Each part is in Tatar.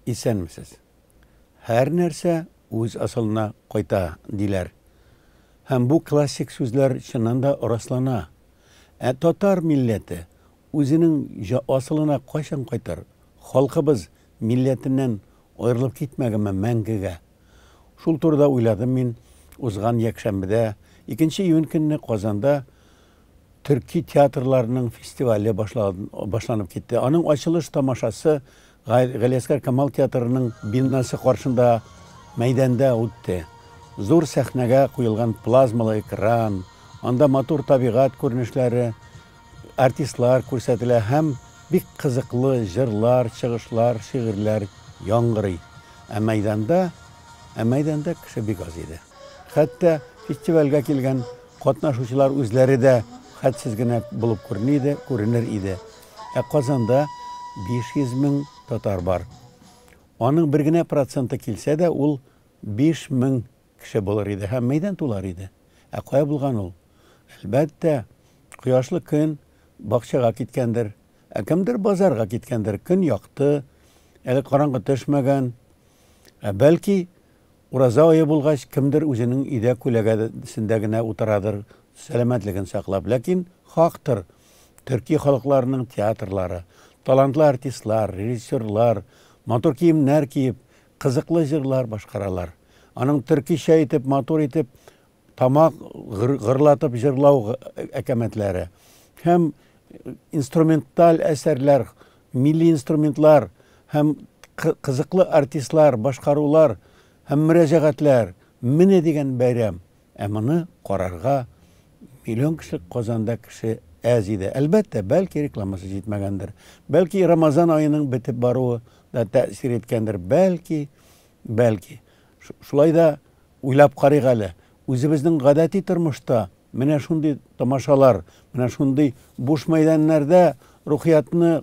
Исәнмесез. Һәр нәрсә үз асылына кайта, диләр. Һәм бу классик сүзләр чыннан да раслана. Ә татар милләте үзенең асылына кайчан кайтыр? Халкыбыз Милләтеннән аерылып китмәгәнме мәңгегә? Шул турыда уйладым мин узган якшәмбедә, икенче июнь көнне Казанда төрки театрларның фестивале башланып китте. Аның ачылыш тамашасы Галиәскар Камал театрының бинасы каршында мәйданда үтте. Зур сәхнәгә куелган плазмалы экран, анда матур табигать күренешләре, Артистлар күрсәтелә һәм бик кызыклы җырлар, чыгышлар, шигырьләр яңгырый. Ә мәйданда, ә мәйданда кеше бик аз иде. Хәтта фестивальгә килгән катнашучылар үзләре дә хәтсез генә булып күренә иде, күренер иде. Ә Казанда 500 мең татар бар. Аның бер генә проценты килсә дә, ул 5000 Кеше булыр иде һәм мәйдан тулар иде. Ә кая булган ул? Әлбәттә, кояшлы көн бакчага киткәндер. Ә кемдер базарга киткәндер. Көн якты, әле караңгы төшмәгән. Ә бәлки, ураза ае булгач, кемдер үзенең өйдә күләгәсендә генә утырадыр, сәламәтлеген саклап. Ләкин хактыр, төрки халыкларының театрлары, талантлы артистлар, режиссерлар, матур киемнәр киеп, Кызыклы җырлар башкаралар. Аның төркичә итеп, матур итеп тамак гырлатып җырлау әкәмәтләре һәм инструменталь әсәрләр, милли инструментлар һәм кызыклы артистлар, башкарулар һәм мөрәҗәгатьләр, менә дигән бәйрәм! Ә моны карарга миллион кеше, Казанда кеше әз иде. Әлбәттә, бәлки рекламасы җитмәгәндер, бәлки Рамазан аеның бетеп баруы да тәэсир иткәндер, бәлки, бәлки. Шулай да уйлап карыйк әле, үзебезнең гадәти тормышта менә шундый тамашалар, менә шундый буш мәйданнәрдә рухиятны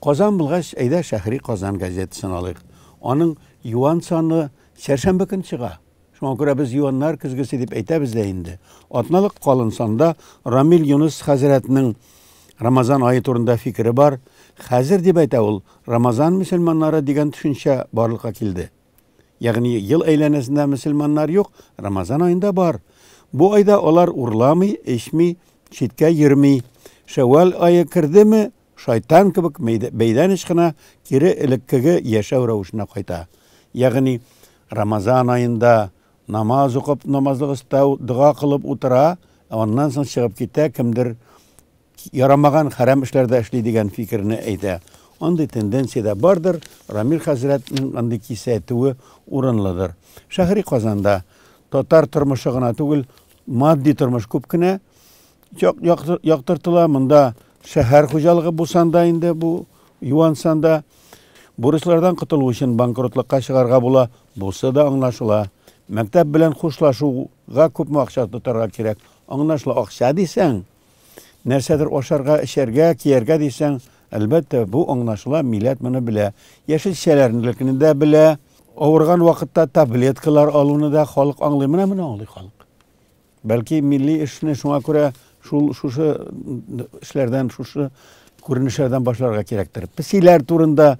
Казан булгач, әйдә Шәһри Казан газетасын алыйк. Аның юан саны сәршәмбе көн чыга. Шуңа күрә без юаннар көзгесе дип әйтәбез дә инде. Атналык калын санда Рамил Юныс хәзрәтнең Рамазан ае турында фикере бар. Хәзер, дип әйтә ул, Рамазан мөселманнары дигән төшенчә барлыкка килде. Ягъни ел әйләнәсендә мөселманнар юк, Рамазан аенда бар. Бу айда алар урламый, эчми, читкә йөрми. Шәввал ае кердеме, Шайтан кебек бәйләнеш кына кире элеккеге яшәү рәвешенә кайта. Ягъни, Рамазан аенда намаз укып, намазлык өстәү, дога кылып утыра, ә аннан соң чыгып китә, кемдер ярамаган, хәрам эшләр дә эшли дигән фикерне әйтә. Андый тенденция дә бардыр, Рамил хәзрәтнең андый кисәтүе урынлыдыр. Шәһри Казанда татар тормышы гына түгел, матди тормыш күп кенә яктыртыла. Монда шәһәр хуҗалыгы булсан да инде бу юансан да бурычлардан котылу өчен банкротлыкка чыгарга була. Бусы да аңлашыла. Мәктәп белән хушлашуга күпме акча тотарга кирәк? Аңлашыла. Акча дисәң, нәрсәдер ашарга, эчәргә, кияргә дисәң, әлбәттә, бу аңлашыла, милләт моны белә. Яшелчәләрнелекне дә белә. Авырган вакытта таблеткалар алуны да халык аңлый. Менә моны аңлый халык. Бәлки милли эшне шуңа күрә шул шушы эшләрдән, шушы күренешләрдән башларга кирәктер. Песиләр турында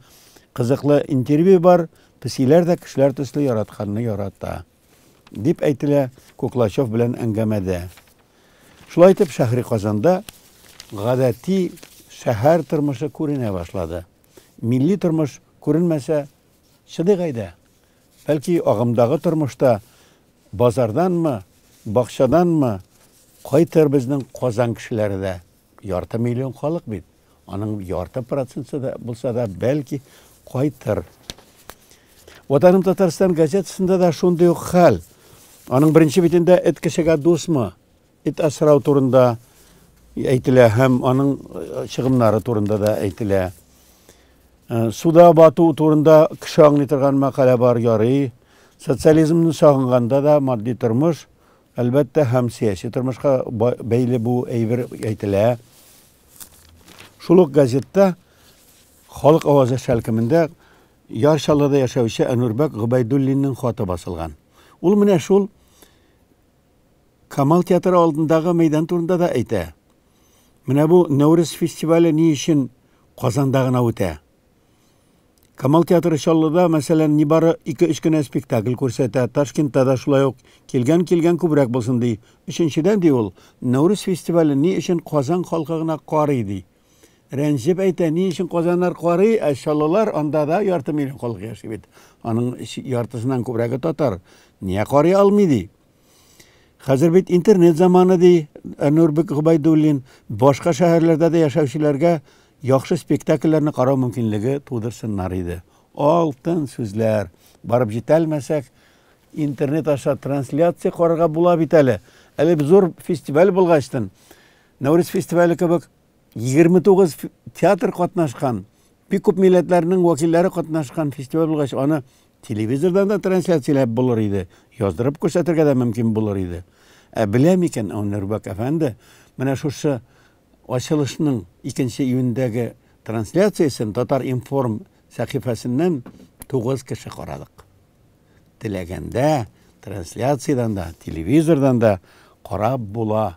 кызыклы интервью бар. Песиләр дә кешеләр төсле яратканны ярата. Дип әйтелә Куклачев белән әңгәмәдә. Шулай итеп шәһри Казанда гадәти шәһәр тормышы күренә башлады. Милли тормыш күренмәсә, чыдык әйдә. Бәлки агымдагы тормышта Базарданмы, бакчаданмы, кайтыр безнең Казан кешеләре дә. Ярты миллион халык бит. Аның ярты проценты да булса да, бәлки, кайтыр. Ватаным Татарстан газетасында да шундый ук хәл. Аның беренче битендә эт кешегә дусмы? Эт асрау турында әйтелә һәм аның чыгымнары турында да әйтелә. Суда бату турында кеше аңлый торган мәкалә бар, ярый. Социализмны сагынганда да матди тормыш, әлбәттә, һәм сәяси тормышка бәйле бу әйбер әйтелә. Шул ук газетта Халык авазы шәлкемендә Яр Чаллыда яшәүче Әнүрбәк Гобәйдуллинның хаты басылган. Ул менә шул Камал театры алдындагы мәйдан турында да әйтә. Менә бу Нәүрүз фестивале ни өчен Казанда гына үтә? Камал театры Чаллыда, мәсәлән, нибары 2-3 кенә спектакль күрсәтә, Ташкентта да шулай ук килгән-килгән күбрәк булсын ди. Өченчедән, ди ул, Нәүрүз фестивален ни өчен Казан халкы гына карый, ди. Рәнҗеп әйтә, ни өчен казаннар карый, ә чаллылар анда да ярты миллион халык яши бит. Аның яртысыннан күбрәге татар. Нигә карый алмый ди? Хәзер бит интернет заманы ди Нурбек Губайдуллин. Башка шәһәрләрдә дә яшәүчеләргә яхшы спектакльләрне карау мөмкинлеге тудырсыннар иде. Алтын сүзләр. Барып җитәлмәсәк, интернет аша трансляция карарга була бит әле. Әле зур фестиваль булгачтын Нәүрүз фестивале кебек 29 театр катнашкан, бик күп милләтләрнең вәкилләре катнашкан фестиваль булгач, аны телевизордан да трансляцияләп булыр иде, яздырып күрсәтергә дә мөмкин булыр иде. Ә белә микән Әнүрбәк әфәнде менә шушы ачылышның 2 июньдәге трансляциясен Татар-информ сәхифәсеннән 9 кеше карадык. Теләгәндә трансляциядән дә, телевизордан да карап була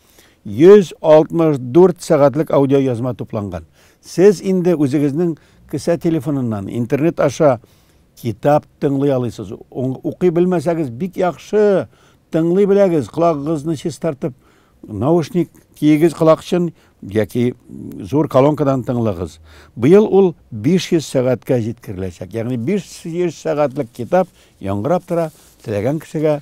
164 сәгатьлек аудиоязма тупланган. Сез инде үзегезнең кесә телефоныннан, интернет аша китап тыңлый алыйсыз. Укый белмәсәгез, бик яхшы тыңлый беләгез, колагыгызны чистартып, наушник киегез колакчын яки зур колонкадан тыңлагыз. Быел ул 500 сәгатькә җиткереләчәк. Ягъни 500 сәгатьлек китап яңгырап тора, теләгән кешегә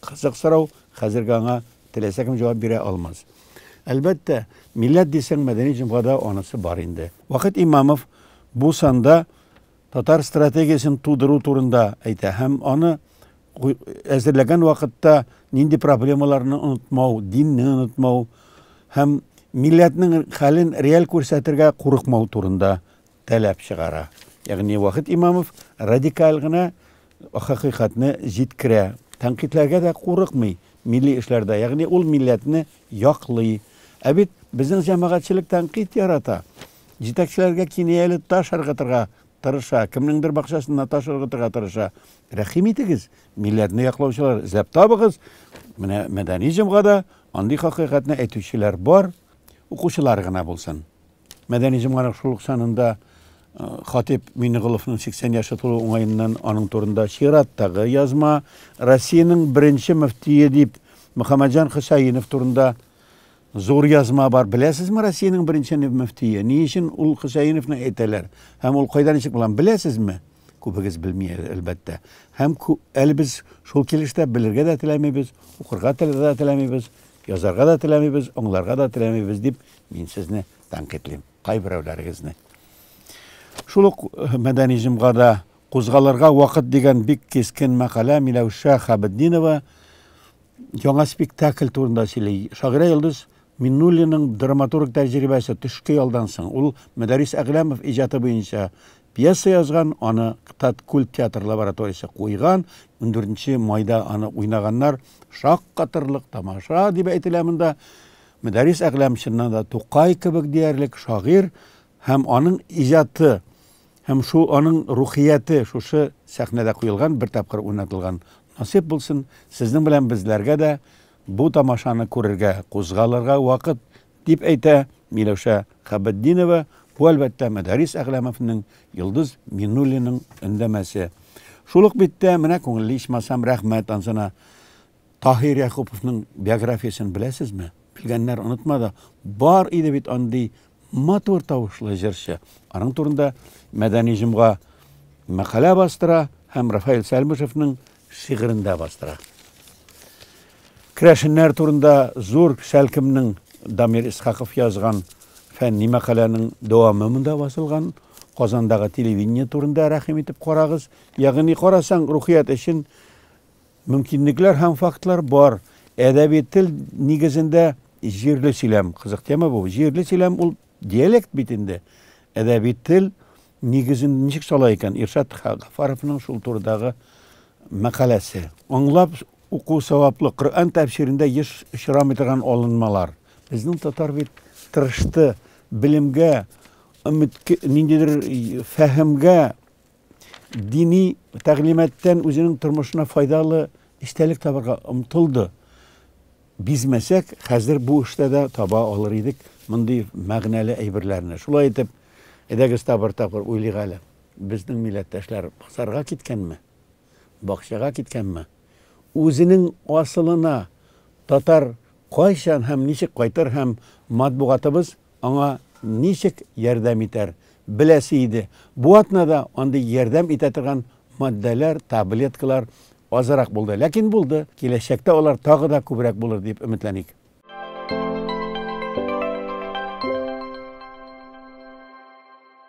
Кызык сорау, хәзерге аңа теләсә кем җавап бирә алмас. Әлбәттә, милләт дисәң, мәдәни җомгада анысы бар инде. Вахит Имамов бу санда татар стратегиясен тудыру турында әйтә һәм аны әзерләгән вакытта нинди проблемаларны онытмау, динне онытмау һәм милләтнең хәлен реаль күрсәтергә курыкмау турында таләп чыгара. Ягъни Вахит Имамов радикаль гына хакыйкатьне җиткерә, тәнкыйтьләргә дә курыкмый милли эшләрдә, ягъни ул милләтне яклый. Ә бит безнең җәмәгатьчелек тәнкыйть ярата. Җитәкчеләргә кинаяле таш ыргытырга тырыша, кемнеңдер бакчасына таш ыргытырга тырыша. Рәхим итегез, милләтне яклаучылар эзләп табыгыз. Менә мәдәни җомгада андый хакыйкатьне әйтүчеләр бар, укучылар гына булсын. Мәдәни җомгарак шул ук санында Хатип Минеголовның 80 яше тулу уңаеннан аның турында чираттагы язма, Россиянең беренче мөфтие дип Мөхәммәтҗан Хөсәенов турында зур язма бар. Беләсезме Россиянең беренче мөфтие? Ни өчен ул Хөсәеновны әйтәләр? Һәм ул кайда ничек булган? Беләсезме? Күбегез белми, әлбәттә. Һәм әле без шул килештә белергә дә теләмибез, укырга дә теләмибез, язарга да теләмибез, аңларга да теләмибез дип Мин сезне тәнкыйтьлим, кайберәүләрегезне. Шул ук мәдәни җомгада Кузгалырга вакыт дигән бик кискен мәкалә Миләүшә Хәбетдинова яңа спектакль турында сөйли. Шагыйрә Йолдыз Миннуллиның драматург тәҗрибәсе төшке ялдан соң. Ул Мәдәрис Әгъләмов иҗаты буенча пьеса язган, аны Таткүл театр лабораториясе куйган. 14 майда аны уйнаганнар. Шаккатырлык тамаша дип әйтелә монда. Мөдәррис Әгъләм чыннан да Тукай кебек диярлек шагыйрь һәм аның иҗаты һәм шул аның рухияте шушы сәхнәдә куелган, бер тапкыр уйнатылган. Насыйп булсын, сезнең белән безләргә дә бу тамашаны күрергә, кузгалырга вакыт, дип әйтә Миләүшә Хәбетдинова, бу, әлбәттә, Мөдәррис Әгъләмовның, Йолдыз Минуллинаның өндәмәсе. Шул ук биттә, менә күңелле ичмасам, рәхмәт ансына. Таһир Якуповның биографиясен беләсезме? Белгәннәр онытма да, бар иде бит андый матур тавышлы җырчы. Аның турында Мәдәни җомга мәкалә бастыра һәм Рафаэль Сәлмышевның шигырендә бастыра. Керәшеннәр турында зур Шәлкемнең Дамир Исхаков язган фәнни мәкаләнең дәвамы монда басылган. Казандагы телевидение турында рәхим итеп карагыз. Ягъни карасаң, рухият өчен Мөмкинлекләр һәм фактлар бар. Әдәби тел нигезендә җирле сөйләм. Кызык тема бу. Җирле сөйләм ул диалект бит инде. Әдәби тел нигезен ничек сала икән? Иршат Гафаровның шул турыдагы мәкаләсе. Аңлап уку саваплы. Коръән тәфсирендә еш очрамый торган алынмалар. Безнең татар бит тырышты, белемгә, ниндидер фәһемгә дини тәгълиматтан үзенең тормышына файдалы истәлек табарга омтылды. Бизмәсәк, хәзер бу эштә дә таба алыр идек мондый мәгънәле әйберләрне. Шулай итеп, әйдәгез табыр тапыр уйлыйк әле. Безнең милләттәшләр базарга киткәнме? Бакчага киткәнме? Үзенең асылына татар кайчан һәм ничек кайтыр һәм матбугатыбыз Аңа ничек ярдәм итәр беләсе иде. Бу атнада андый ярдәм итә торган матдәләр, таблеткалар азрак булды. Ләкин булды. Киләчәктә алар тагы да күбрәк булыр дип өметләник.